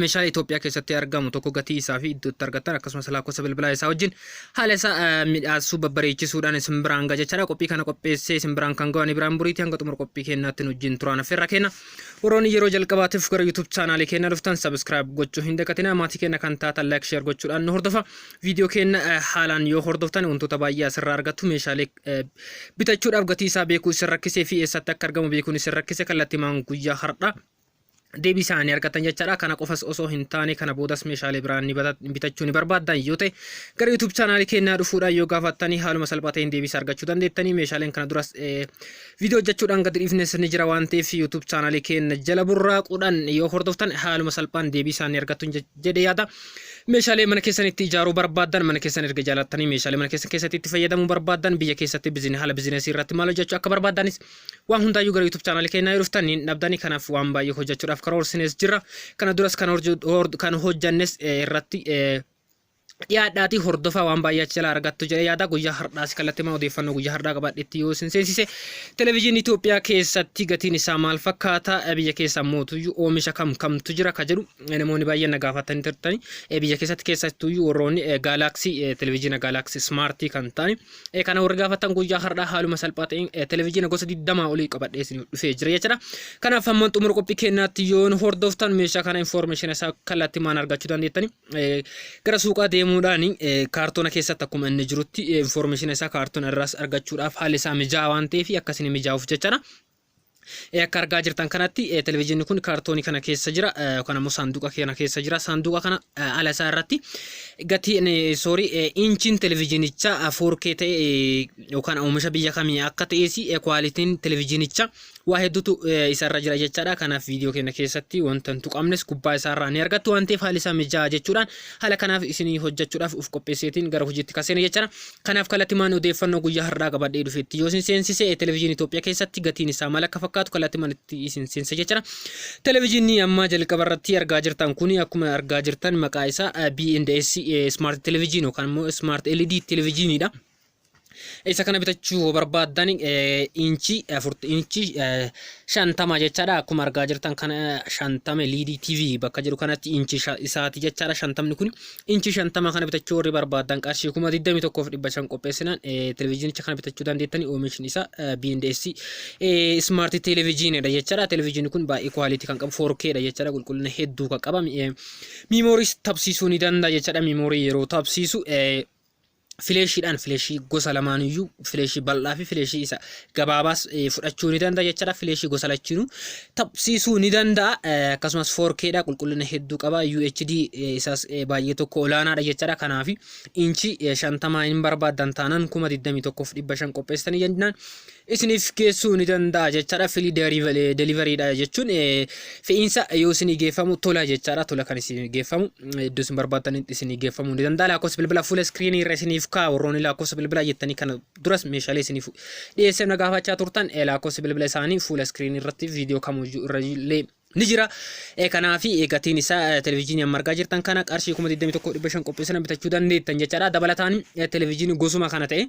meeshaalee Itoophiyaa keessatti argamu tokko gatii isaa fi iddoo itti argattan akkasumas lakkoofsa bilbilaa isaa wajjin haala isaa midhaassuu babbareechisuudhaan isin biraan ga'a jechaadha. Qophii kana qopheessee isin biraan kan ga'u ani biraan buriitii hanga xumura qophii keenyaatti nu wajjin turaan affeerraa keenya. Warroonni yeroo jalqabaatiif gara YouTube chaanaalii keenya dhuftan subscribe gochuu hin dagatinaa maatii keenya kan taatan like share gochuudhaan nu hordofa. Viidiyoo keenya haalaan yoo hordoftan wantoota baay'ee asirraa argattu meeshaalee bitachuudhaaf gatii isaa beekuu isin rakkisee fi eessatti akka argamu beekuun isin rakkise kallattimaan guyyaa har'aa deebii isaa ni argattan jechaadha. Kana qofas osoo hin taane kana boodas meeshaalee biraa ni bata- bitachuu ni barbaaddan yoo ta'e gara YouTube chaanaalii keenyaa dhufuudhaan yoo gaafattanii haaluma salphaa ta'een deebii isaa argachuu dandeettanii meeshaaleen kana duras eh, viidiyoo hojjechuudhaan gadi dhiifnes ni jira waan ta'eef YouTube chaanaalii keenya jala burraaquudhaan yoo hordoftan haaluma salphaan deebii isaa ni argattu je- jedhee yaada. Meeshaalee mana keessanitti ijaaruu barbaaddan mana keessan erga jaalattanii meeshaalee mana keessan keessatti itti fayyadamuu barbaaddan biyya keessatti bizine- haala bizinesii irratti maal hojjechuu akka barbaaddanis Waan hundaayyuu gara YouTube channel keenyaa yoo dhuftan hin dhabdani kanaaf waan baay'ee hojjechuudhaaf karoorsinees jirra. Kana duras kan horju- hor- kan hojjannes eh, irratti eh, dhiyaadhaati hordofaa waan baay'ee achi jalaa argattu jedhee yaada guyyaa har'aas kallattimaa odeeffannoo guyyaa har'aa qabaadhetti yoo isin seensise televezyiinii Itoophiyaa keessatti gatiin isaa maal fakkaata Eh, biyya keessa mootuyyuu oomisha kam kamtu jira ka jedhu eh, namoonni baay'een na gaafatanii turtani Eh, biyya keessatti keessattuyyuu warroonni eh, gaalaksii eh, televezyiina gaalaksii smaartii kan ta'ani Eh, kana warri gaafattan guyyaa har'aa haaluma salphaa ta'een eh, televizyiina gosa 20 olii qabadhee isin dhufee jira jechuudha. Kanaaf hamman xumura qophii kennaatti yoo nu hordoftan meeshaa kana information isaa kallattii maan argachuu dandeettani. Eh, Gara suuqaa deemuudhaan eh, kaartoona keessatti akkuma inni jirutti eh, information isaa kaartoona irraas argachuudhaaf haalli isaa mijaa'aa waan ta'eef akkasiin mijaa'uuf jechuudha. Ee akka argaa jirtan kanatti ee, televizyiinni kun kaartoonii kana keessa jira ee, yookaan ammoo saanduqa kana keessa jira saanduqa kana ee, ala isaa irratti gatiin ee, sorry ee, inchiin televizyiinichaa ee, 4K ta'e ee, yookaan oomisha biyya kamii akka ta'es ee, kwaalitiin televizyiinichaa waa hedduutu ee, isarra jira jechaadha kanaaf viidiyoo keenya keessatti wanta hin tuqamnes gubbaa isaarraa ni argattu waan ta'eef haalli isaa mijaa'aa jechuudhaan haala kanaaf isinii hojjechuudhaaf of qopheesseetiin gara hojiitti kaseena jechaadha Kanaaf kallattimaan odeeffannoo guyyaa har'aa qabadhee dhufetti yoo isin seensise televezyiinii Itoophiyaa keessatti gatiin isaa maal akka fakkaatu kallattimaan itti isin seensa jechuudha. Televezyiinii ammaa jalqaba irratti argaa jirtan kuni akkuma argaa jirtan maqaa isaa B&S Smart Television yookaan immoo Smart LED Televezyiiniidha. Isa kana bitachuu yoo barbaaddan inchii afurtu inchii shantama jechaadha akkuma argaa jirtan kana shantama liidii TV bakka jedhu kanatti inchii isaati jechaadha shantamni kun Inchii 50 kana bitachuu warri barbaaddan qarshii 21,500 qopheessinaan televezyiinicha kana bitachuu dandeettanii oomishni isaa BNDS ismaartii televezyiinidha jechaadha. Televezyiinii kun baay'ee kwaalitii kan qabu 4K dha jechaadha qulqullina hedduu kan qaba. Miimooriis tabsiisuu ni danda'a jechaadha. Miimoorii yeroo tabsiisu fileeshiidhaan fileeshii gosa lamaanuyyuu fileeshii bal'aa fi fileeshii isa gabaabaas eh, fudhachuu ni danda'a jechaadha. Fileeshii gosa lachiinuu taphsiisuu ni danda'a. Eh, Akkasumas 4K dha qulqullina hedduu qaba. UHD eh, isaas eh, baay'ee tokko olaanaadha jechaadha. Kanaaf inchii eh, 50 hin barbaadan taanaan 21,500 qopheessitanii jennaan. isiniif geessuu ni danda'a jechaadha. Filii deliveriidha jechuun fe'iinsa yoo isinii geeffamu tola jechaadha. Tola kan isinii geeffamu iddoo isin barbaadanitti isinii geeffamuu ni danda'a. Lakkoofsa bilbila fuula iskiriinii irra isiniif kaa'a. Warroonni lakkoofsa bilbilaa jettanii kana duras meeshaalee isiniif dhiyeessee na gaafachaa turtan lakkoofsa bilbila isaanii fuula iskiriinii irratti viidiyoo kamiyyuu irra illee ni jira. Kanaaf gatiin isaa televizyiinii amma argaa jirtan kana qarshii kuma 21 dhibba shan qopheessina bitachuu dandeettan jechaadha. Dabalataan televizyiinii gosuma kana ta'e.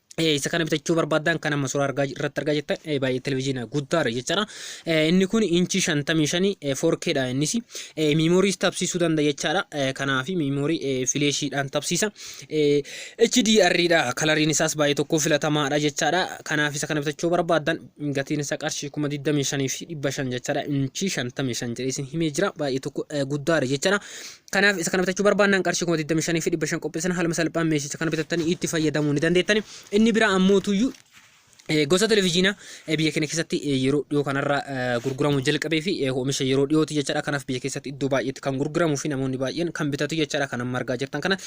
isa kana bitachuu barbaadan kan amma suuraa argaa irratti argaa jirtan baay'ee televizyiina guddaadha jechaadha. Inni kun inchii shantamii shanii foorkeedha innis miimoorii tabsiisuu danda'a jechaadha. Kanaaf miimoorii fileeshiidhaan tabsiisa. HDRidha kalariin isaas baay'ee tokko filatamaadha jechaadha. Kanaaf isa kana bitachuu barbaadan gatiin isaa qarshii kuma digdamii shanii fi dhibba shan jechaadha. Inchii shantamii shan jedhee isin himee jira baay'ee tokko guddaadha jechaadha. Kanaaf isa kana bitachuu barbaannaan qarshii 25,500 qopheessina haaluma salphaan meeshicha kana bitattanii itti fayyadamuu ni dandeettani. Inni biraa ammootuyyuu eh, gosa televezyiinaa eh, biyya keenya keessatti eh, yeroo dhiyoo kanarra eh, gurguramuu jalqabee fi eh, oomisha yeroo dhiyooti jechaadha. Kanaaf biyya keessatti iddoo baay'eetti kan gurguramuu fi namoonni baay'een kan bitatu jechaadha. Kan amma argaa jirtan kana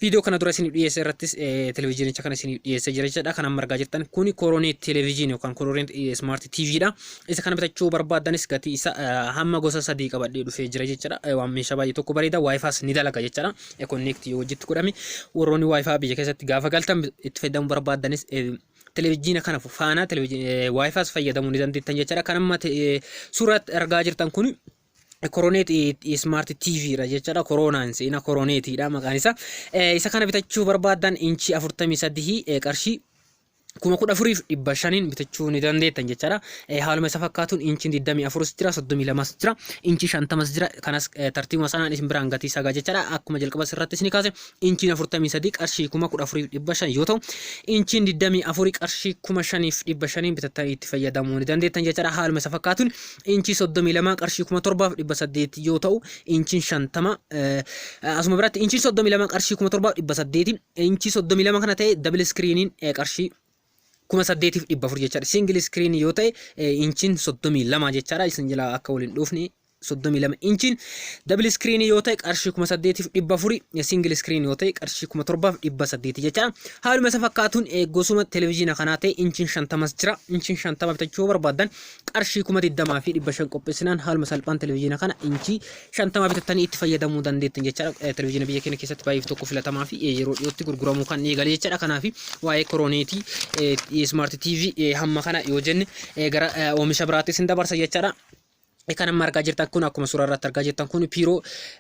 viidiyoo kana dura isiniif dhiyeesse irrattis eh, televezyiinicha kana isiniif dhiyeesse jira jechaadha. Kan amma argaa jirtan kuni koronee televezyiinii yookaan koronee smaart TV dha. isa kana bitachuu barbaaddanis gatii isa hamma gosa sadii qabadhee dhufee jira jechuudha. Waan meeshaa baay'ee tokko bareeda waayifaas ni dalaga jechuudha. Connect yoo wajjitti godhame warroonni waayifaa biyya keessatti gaafa galtan itti fayyadamuu barbaaddanis televizyiina kana faana waayifaas fayyadamuu ni dandeettan jechuudha. Kan amma suuratti argaa jirtan kun Koroneet Smart TV dha jechuudha. Koroonaan seenaa Koroneetiidha maqaan isaa. Isa kana bitachuu barbaaddan inchii 43 qarshii kuma kudha afuriif dhibba shaniin bitachuu ni dandeettan jechaadha. Eh, Haaluma isa fakkaatuun inchiin 24 jira, 32 jira, inchii 50 jira. Kanas eh, tartiibuma sanaan isin biraan gatii isaa gaa jechaadha. Akkuma jalqaba irratti isin kaase inchiin 43 qarshii kuma kudha afuriif dhibba shan yoo ta'u, inchiin 24 qarshii kuma shaniif dhibba shaniin bitattanii itti fayyadamuu ni dandeettan jechaadha. Haaluma isa fakkaatuun inchii 32 qarshii kuma torbaaf dhibba saddeet yoo ta'u, inchiin 50 eh, asuma biratti inchiin 32 qarshii kuma torbaaf dhibba saddeetiin Inchii 32 kana ta'e double screenin qarshii kuma saddeetiif dhibba afur jechaadha. Single screen yoo ta'e inchiin 32 jechaadha. Isin jala akka waliin dhufne 32 inchiin double screen yoo ta'e qarshii kuma saddeetiif dhibba afuri single screen yoo ta'e qarshii kuma torbaaf dhibba saddeeti jechaadha. Haaluma isa fakkaatuun gosuma televizyiina kanaa ta'e inchiin shantamas jira. Inchiin shantama bitachuu yoo barbaaddan qarshii kuma digdamaa fi dhibba shan qopheessinaan haaluma salphaan televizyiina kana inchii 50 bitattanii itti fayyadamuu dandeettan jechaadha. Televezyiina biyya keenya keessatti baay'eef tokko filatamaa fi yeroo dhiyootti gurguramuu kan eegale jechaadha. Kanaaf waa'ee korooneetii smart TV hamma kana yoo jenne gara oomisha biraatti isin dabarsa jechaadha. Kan amma argaa jirtan kun akkuma suuraa irratti argaa jirtan kun piiroo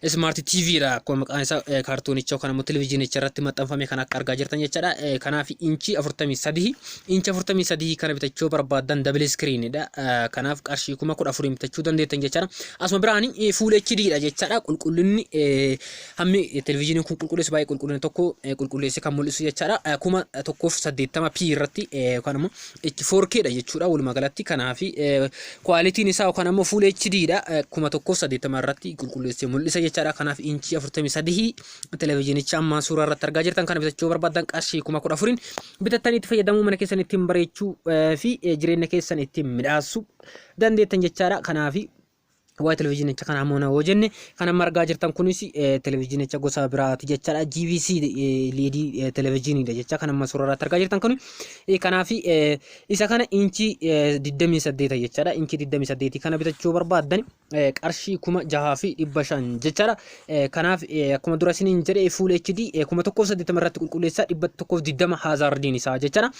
smart TV dha. Akkuma maqaan isaa kaartoonicha yookaan immoo televezyiinicha irratti maxxanfame kan akka argaa jirtan jechaadha. Kanaaf inchii 43 Inch 43 kana bitachuu yoo barbaaddan double screen dha. Kanaaf qarshii kuma kudha afuriin bitachuu dandeettan jechaadha. Asuma biraan full HD dha jechaadha. Qulqullinni hammi televizyiiniin kun qulqulleessu baay'ee qulqullina tokko qulqulleessee kan mul'isu jechaadha. Kuma tokkoof saddeettama P irratti yookaan immoo itti 4K dha jechuudha walumaa galatti. Kanaaf kwaalitiin isaa yookaan immoo full HD dha. Kuma tokkoof saddeettama irratti qulqulleessee mul'isa jechaadha. Kanaaf inchii afurtamii sadii televizyiinicha amma suuraa irratti argaa jirtan kana bitachuu barbaaddan qarshii kuma kudha afuriin bitattan itti fayyadamuu mana keessan ittiin bareechuu eh, fi eh, jireenya keessan ittiin midhaassuu dandeettan jechaadha kanaafi waa televizyiinicha kana ammoo na yoo jenne kan amma argaa jirtan kunis eh, televizyiinicha gosa biraati jechaadha GVC eh, liidii eh, televizyiiniidha jecha kan amma suuraa irratti argaa jirtan kun eh, kanaafi eh, isa kana inchii eh, 28 jechaadha inchii 28 kana bitachuu barbaaddan qarshii kuma jahaa fi dhibba shan jechaadha. Kanaaf akkuma dura isiniin jedhe fuul HD kuma tokkoof saddeettama irratti qulqulleessa dhibba tokkoof digdama haazaardiin isaa jechaadha.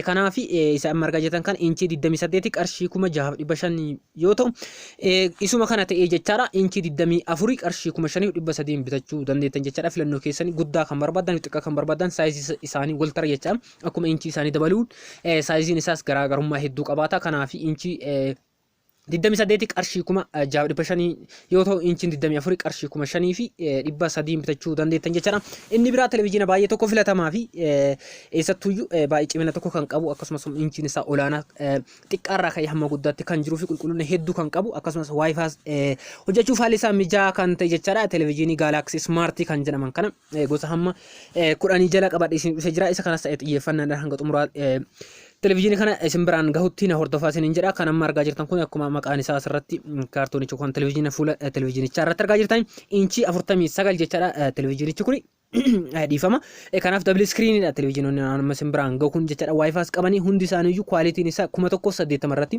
Kanaaf isa amma argaa jirtan kan inchii digdamii saddeeti qarshii kuma jahaaf dhibba shan yoo ta'u isuma kana ta'ee jechaadha inchii digdamii afurii qarshii kuma shaniif dhibba sadiin bitachuu dandeettan jechaadha filannoo keessanii guddaa kan barbaadan xiqqaa kan barbaadan saayizii isaanii wal tara jechaadha akkuma inchii isaanii dabaluun saayiziin isaas garaagarummaa hedduu qabaata kanaaf inchii 28 qarshii kuma jaaf dhibba shanii yoo ta'u inchiin 24 qarshii kuma shanii fi dhibba sadiin bitachuu dandeettan jechaadha. Inni biraa televizyiina baay'ee tokko filatamaa fi eessattuyyuu baay'ee cimina tokko kan qabu akkasumas inchiin isaa olaanaa xiqqaarraa ka'ee hamma guddaatti kan jiruu fi qulqullina hedduu kan qabu akkasumas waayifaas hojjechuuf haalli isaa mijaa'aa kan ta'e jechaadha. Televizyiinii gaalaksii ismaartii kan jedhaman kana eh, gosa hamma eh, kudhanii jala qabadhe isin dhufee jira isa kanas ta'e xiyyeeffannaadhaan hanga xumuraa eh, televizyiinii kana isin biraan gahutti na hordofaa isiniin jedha kan amma argaa jirtan kun akkuma maqaan isaa asirratti mm, kaartoonichi kun televizyiina fuula eh, televizyiinichaa irratti argaa jirtan inchii afurtamii sagal jechaadha eh, televizyiinichi kuni eh, dhiifama Eh, kanaaf dabli iskiriiniidha televizyiinonni amma isin biraan gahu kun jechaadha waayifaas qabanii hundi isaaniiyyuu kwaalitiin isaa kuma tokko saddeettama irratti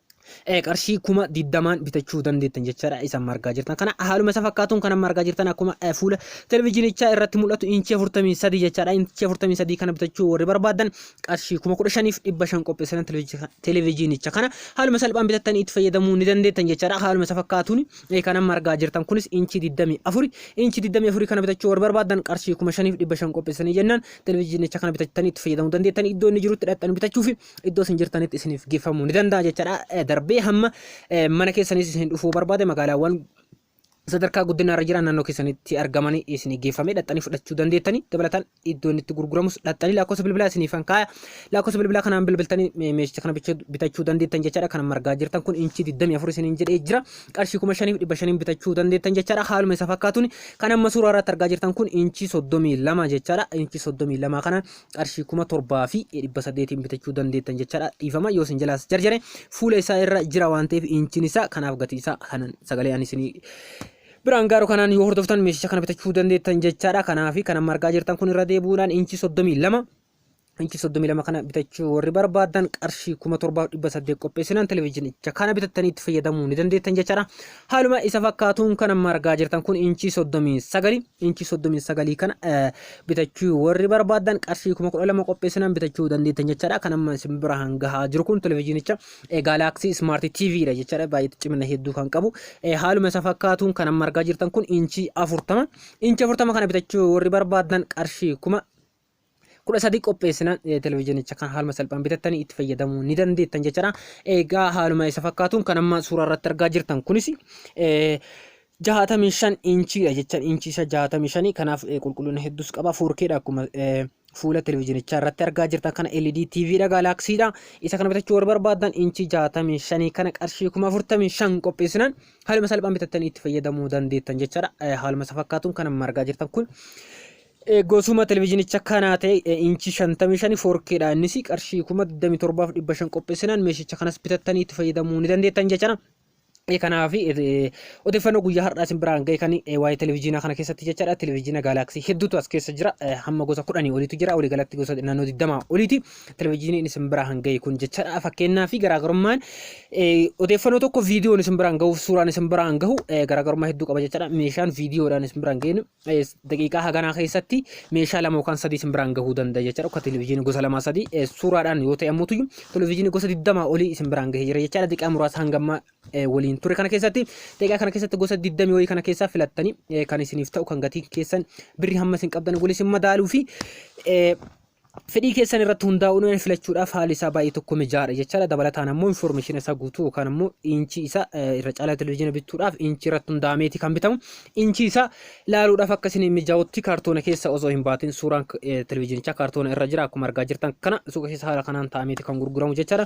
eh, qarshii kuma digdamaan bitachuu dandeettan jechaadha isa amma argaa jirtan kana haaluma isa fakkaatuun kan amma argaa jirtan akkuma eh, fuula televizyinichaa irratti mul'atu inchii afurtamii sadii jechaadha inchii afurtamii sadii kana bitachuu warri barbaadan qarshii kuma kudha shaniif dhibba shan qopheessan televizyi- televizyiinicha kana haaluma salphaan bitattanii itti fayyadamuu ni dandeettan jechaadha haaluma isa fakkaatuun eh, kan amma argaa jirtan kunis inchii digdamii afuri inchii digdamii afurii kana bitachuu warri barbaadan qarshii kuma shaniif dhibba shan qopheessanii jennaan televizyiinicha kana bitattanii itti fayyadamuu dandeettan iddoo inni jirutti dhaqxanii bitachuu fi iddoo isin jirtanitti isiniif geeffamuu ni danda'a jechaadha. Eh, Darbee hamma eh, mana keessanis isin dhufuu barbaade magaalaawwan sadarkaa guddinaa irra jiran naannoo keessanitti argamanii isinii geeffamee dhaxxanii fudhachuu dandeettanii dabalataan iddoo inni itti gurguramus dhaxxanii lakkoofsa bilbilaa isiniif kan kaaya lakkoofsa bilbilaa kanaan bilbiltanii me- meeshicha kana bicha- bitachuu dandeettan jechaadha kan margaa jirtan kun inchii 24 isiniin jedhee jira qarshii 5500 bitachuu dandeettan jechaadha haaluma isa fakkaatuun kan amma suuraa irratti argaa jirtan kun inchii 32 jechaadha inchii 32 kana qarshii kuma torbaa fi dhibba saddeetiin bitachuu dandeettan jechaadha dhiifama yoo isin jalaas jarjare fuula isaa irra jira waan ta'eef inchiin isaa kanaaf gatii isaa kanan sagalee ani isinii biraan gaaruu kanaan yoo hordoftan meeshicha kana bitachuu dandeettan jechaadha kanaafi kan amma argaa jirtan kun irra deebi'uudhaan inchii soddomii lama inchi soddomii lama kana bitachuu warri barbaadan qarshii kuma torbaaf dhibba saddeet qopheessinaan televizyiinicha kana bitattanii itti fayyadamuu ni dandeettan jechaadha Haaluma isa fakkaatuun kan amma argaa jirtan kun inchii 39 inchii 39 kana bitachuu warri barbaaddan qarshii 12,000 qopheessinaan bitachuu dandeettan jechaadha kan amma isin bira hangahaa jiru kun televizyiinicha gaalaaksii ismaarti TV dha jechaadha baay'ee cimina hedduu kan qabu haaluma isa fakkaatuun kan amma argaa jirtan kun inchii 40 inchii 40 kana bitachuu warri barbaaddan qarshii 1000 kudha sadii qopheessinaan televizyiinicha kan haaluma salphaan bitattanii itti fayyadamuu ni dandeettan jechaadha. Egaa haaluma isa fakkaatuun kan amma suuraa irratti argaa jirtan kunis jaatamii shan inchiidha jechaan inchii isa jaatamii shanii kanaaf qulqullina hedduus qaba foorkeedha akkuma fuula televizyinichaa irratti argaa jirtan kana LED TV dha gaalaaksiidha isa kana bitachuu warra barbaadan inchii jaatamii shanii kana qarshii kuma afurtamii shan qopheessinaan haaluma salphaan bitattanii itti fayyadamuu dandeettan jechaadha haaluma isa fakkaatuun kan amma argaa jirtan kun Goosuma televizhinicha kanaa ta'e inchii 55 4K dha innis qarshii 27,500 qopheessinaan meeshicha kanas bitattanii itti fayyadamuu ni dandeettan jechana. Kanaaf odeeffannoo guyyaa har'aa isin biraan ga'e kan waa'ee televizhiinaa kana keessatti jechaadha. Televizhiina gaalaaksii hedduutu as keessa jira. Hamma gosa kudhanii oliitu jira. Walii galatti gosa naannoo 20 oliiti. Televizhiiniin isin biraan ga'e kun jechaadha. Fakkeenyaa fi garaagarummaan odeeffannoo tokko viidiyoon isin biraan ga'uuf suuraan isin biraan gahu garaagarummaa hedduu qaba jechaadha. Meeshaan viidiyoodhaan isin biraan ga'e Yes, daqiiqaa haganaa keessatti meeshaa lama yookaan sadii isin biraan gahuu danda'a jechaadha. Akka televizyiinii gosa lamaa sadii eh, suuraadhaan yoo ta'e ammoo tuyyu televizyiinii gosa digdamaa olii isin biraan gahee jira jechaadha. Daqiiqaa muraasa hangamma eh, waliin ture kana keessatti daqiiqaa kana keessatti gosa digdamii wayii kana keessaa filattanii eh, kan isiniif ta'u kan gatiin keessan birri hamma isin qabdan waliin isin madaaluu fi eh, Fedhii keessan irratti hundaa'uun waan filachuudhaaf haalli isaa baay'ee tokko mijaa'aadha jechaadha. Dabalataan ammoo infoormeeshina isaa guutuu yookaan ammoo inchii isaa irra caalaa televizyiina bituudhaaf inchii irratti hundaa'ameeti kan bitamu. Inchii isaa ilaaluudhaaf akka isin mijaa'utti kaartoona keessa osoo hin baatin suuraan televizyiinichaa kaartoona irra jira akkuma argaa jirtan kana suuqa keessa haala kanaan taa'ameeti kan gurguramu jechaadha.